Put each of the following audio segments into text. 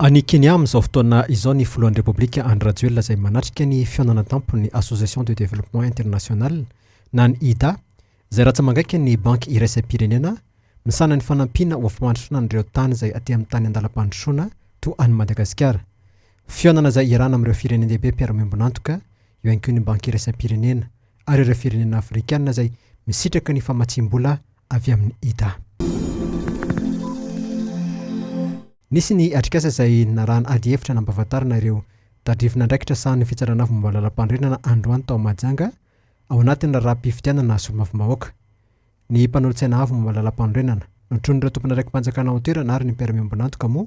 Any Kenya amin'izao fotoana izao ny filohan'ny Repoblika Andry Rajoelina izay manatrika ny fihaonana an-tampon'ny Association de Développement International na ny IDA izay rantsa-mangaika ny Banky Iraisam-pirenena misahana ny fanampiana ho afa-mandrosoana an'ireo tany izay aty amin'ny tany an-dalam-pandrosoana toa an'i Madagasikara. Fihaonana izay iarahana amin'ireo firenen-dehibe mpiara-miombon'antoka eo ihany koa ny Banky Iraisam-pirenena ary ireo firenena Afrikana izay misitraka ny famatsiam-bola avy amin'i Ida. Nisy ny atrikasa izay narahan'ny adihevitra nampahafantarana ireo tadrivin'andraikitra sahanin'ny Fitsaran'Avo momba ny Lalampanorenana androany tao Mahajanga ao anatin'ny raharaham-pifidianana solombavambahoaka. Ny mpanolotsaina Avo momba ny Lalampanorenana, notronin'ireo tompon'andraiki-panjakana ao an-toerana ary ny mpiara-miombon'antoka moa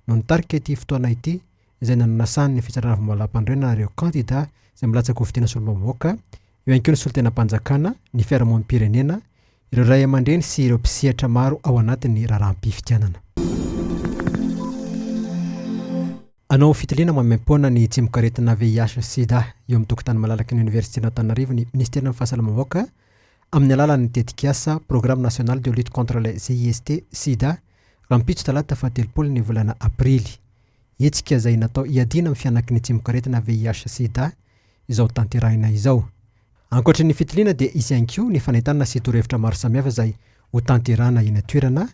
no nitarika ity fotoana ity izay nananasany ny fitsarana vomalampandroenana ireo kandida izay milatsaka ho fidiana solombavambahoaka, eo ihany koa ny solontenam-panjakana, ny fiarahamonim-pirenena, ireo ray aman-dreny sy ireo mpisehatra maro ao anatin'ny raharaham-pifidianana. Hanao fitiliana maimaim-poana ny tsimokaretina VIH-Sida eo amin'ny tokontany malalaky ny Oniversiten'Antananarivo ny Minisiteran'ny Fahasalamam-bahoaka amin'ny alalan'ny tetikasa Programme National de Lutte contre le CIST, Sida, rahampitso talata fahatelopolo ny volana aprily. Hetsika izay natao hiadiana amin'ny fihanakin'ny tsimokaretina VIH sida izao tanterahina izao. Ankoatry ny fitiliana dia hisy ihany koa ny fanentanana sy torohevitra maro samihafa izay ho tanterahana eny an-toerana.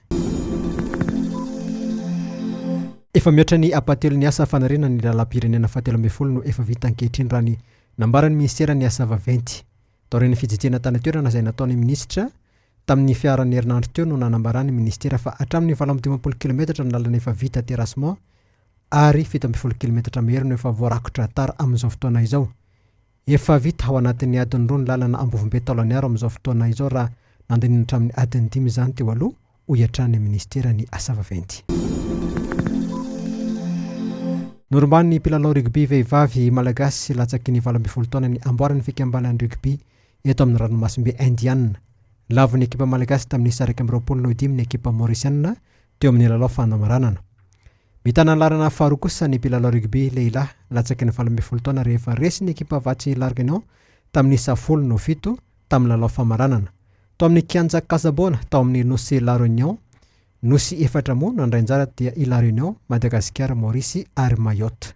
Efa mihoatra ny ampahatelon' ny asa fanarenana ny lalam-pirenena fahatelo ambin'ny folo no efa vita ankehitriny raha ny nambaran'ny minisiteran'ny Asa vaventy, taorian'ny fijejena tany an-toerana izay nataon'ny minisitra Tamin'ny fiaharan'ny herinandro teo no nanambaran'ny minisitera fa hatramin'ny valo amby dimampolo kilometatra ny lalana efa vita terrassement ary fito ambin'ny folo kilometatra mahery no efa voarakotra tar amin'izao fotoana izao. Efa vita ao anatin'ny adiny roa ny lalana Ambovombe Taolagnaro amin'izao fotoana izao raha nandinina hatramin'ny adiny dimy izany teo aloha, hoy hatrany ny minisiteran'ny Asa vaventy. Norombanin'ny mpilalao rugby vehivavy malagasy latsaky ny valo ambin'ny folo taona ny amboaran'ny fikambanan'ny rugby eto amin'ny ranomasimbe Indiana. Lavo ny ekipa malagasy tamin'ny sary iraika amby roapolo noho dimy ny ekipa Maorisiana teo amin'ny lalao fanamaranana. Mitana ny laharana faharoa kosa ny mpilalao rugby lehilahy latsaky ny valo ambin'ny folo taona rehefa resy ny ekipa Vatsy Larguignon tamin'ny isa folo noho fito tamin'ny lalao famaranana tao amin'ny kianja Casabona tao amin'ny nosy La Réunion. Nosy efatra moa no handray anjara dia i La Réunion, Madagasikara, Maorisy ary Mayotte.